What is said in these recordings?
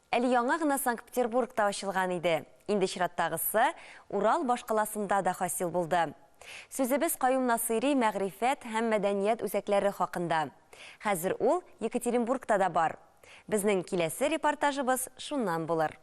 Әле яңа гына Санкт-Петербургта ачылган иде, инде чираттагысы Урал башкаласында да хасил булды. Сүзебез Каюм Насыйри мәгърифәт һәм мәдәният үзәкләре хакында. Хәзер ул Екатеринбургта да бар. Безнең киләсе репортажыбыз шуннан булыр.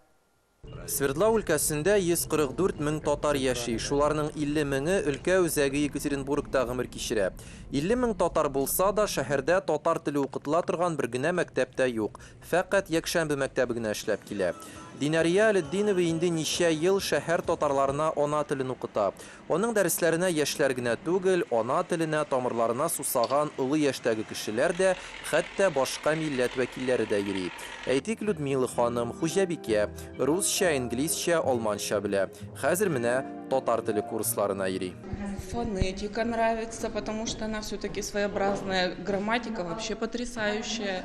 Свердлау өлкәсендә 144 мең татар яши, шуларның 50 меңе өлкә үзәге Екатеринбургта гомер кичерә. 50 мең татар булса да, шәһәрдә татар теле укытыла торган бер генә мәктәп тә юк. Фәкать якшәмбе мәктәбе генә эшләп килә. Динәрия Әлетдинова инде ничә ел шәһәр татарларына ана телен укыта. Аның дәресләренә яшьләр генә түгел, ана теленә, тамырларына сусаган олы яшьтәге кешеләр дә, хәтта башка милләт вәкилләре дә йөри. Әйтик, Людмила ханым, хуҗабикә, русча, инглизчә, алманча белә. Хәзер менә татар теле курсларына йөри. Фонетика нравится, потому что она всё-таки своеобразная, грамматика вообще потрясающая.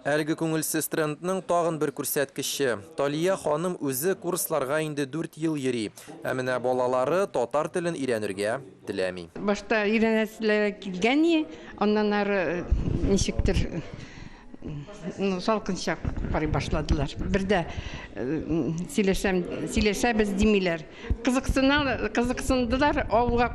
Әлеге күңелсез трендның тагын бер күрсәткече, Талия ханым үзе курсларга инде дүрт ел йөри, ә менә балалары татар телен өйрәнергә теләми. Башта өйрәнәселәре килгәни, аннан ары ничектер салкынча карый башладылар. Бер дә сөйләшәм, сөйләшәбез димиләр. Кызыксыналар, кызыксындылар, авылга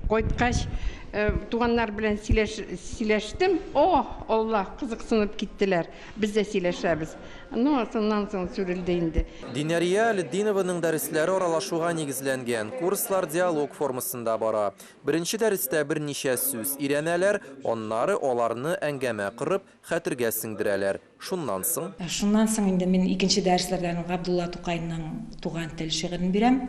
кайткач, э, туганнар белән сөйләш, сөйләштем. О, Алла, кызыксынып киттеләр. Без дә сөйләшәбез. Ну, соннан соң сүрелде инде. Динәрия Әлетдинованың дәресләре аралашуга нигезләнгән. Курслар диалог формасында бара. Беренче дәрестә берничә сүз өйрәнәләр, аннары аларны әңгәмә корып, хәтергә сеңдерәләр. Шуннан соң? Шуннан соң инде мин икенче дәресләрдән Габдулла Тукайның Туган тел шигырен бирәм.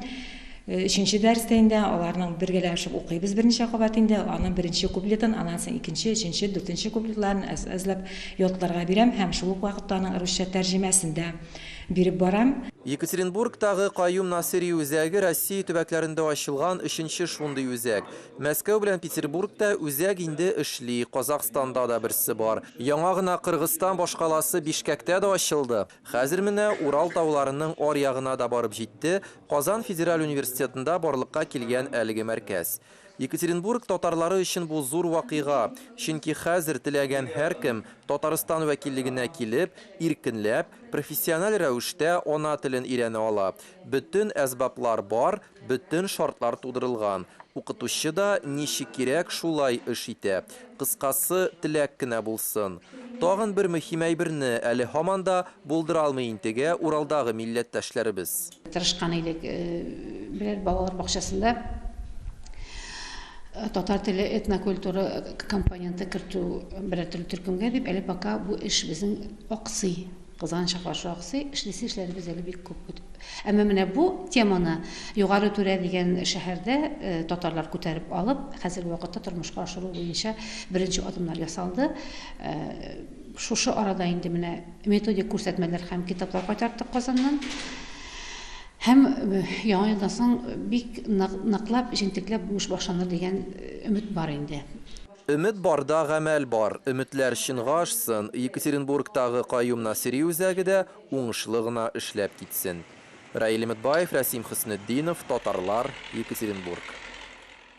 Өченче дәрестә инде аларның бергәләшеп укыйбыз берничә кабат инде, аның беренче куплетын, аннан соң икенче, өченче, дүртенче куплетларын әз-әзләп ятларга бирәм һәм шул ук вакытта аның русча тәрҗемәсен дә биреп барам. Екатеринбургтагы Каюм Насыйри үзәге Россия төбәкләрендә ачылган өченче шундый үзәк. Мәскәү белән Петербург та үзәк инде эшли, Казахстанда да берсе бар. Яңа гына Кыргызстан башкаласы Бишкәктә дә ачылды. Хәзер менә Урал тауларының аръягына да барып җитте, Казан федераль университетында барлыкка килгән әлеге мәркәз. Екатеринбург татарлары өчен бу зур вакыйга, чөнки хәзер теләгән һәркем Татарстан вәкиллегенә килеп, иркенләп, профессиональ рәвештә ана телен өйрәнә ала. Бөтен әсбаплар бар, Бөтен шартлар тудырылган. Укытучы да ничек кирәк, шулай эш итә. Кыскасы, теләк кенә булсын. Тагын бер мөһим әйберне әле һаман да булдыра алмый интегә Уралдагы милләттәшләребез. Тырышкан идек, берәр балалар бакчасында татар теле, этнокультура компоненты кертү берәр төрле төркемгә дип, әле пока бу эш безнең аксый. Кызганычка каршы, аксый, эшлисе эшләребез әле бик күп. Әмма менә бу теманы Югары Түрә дигән шәһәрдә э, татарлар күтәреп алып, хәзерге вакытта тормышка ашыру буенча беренче адымнар ясалды. Э, шушы арада инде менә методик күрсәтмәләр һәм китаплар кайтарттык Казаннан. Һәм э, яңа елдан соң бик ныклап, җентекләп бу эш башланыр дигән өмет бар инде. Өмет барда гамәл бар, өметләр чынга ашсын, Екатеринбургтагы Каюм Насыйри үзәге дә уңышлы гына эшләп китсен. Раил Өметбаев, Рәсим Хөснетдинов, Татарлар, Екатеринбург.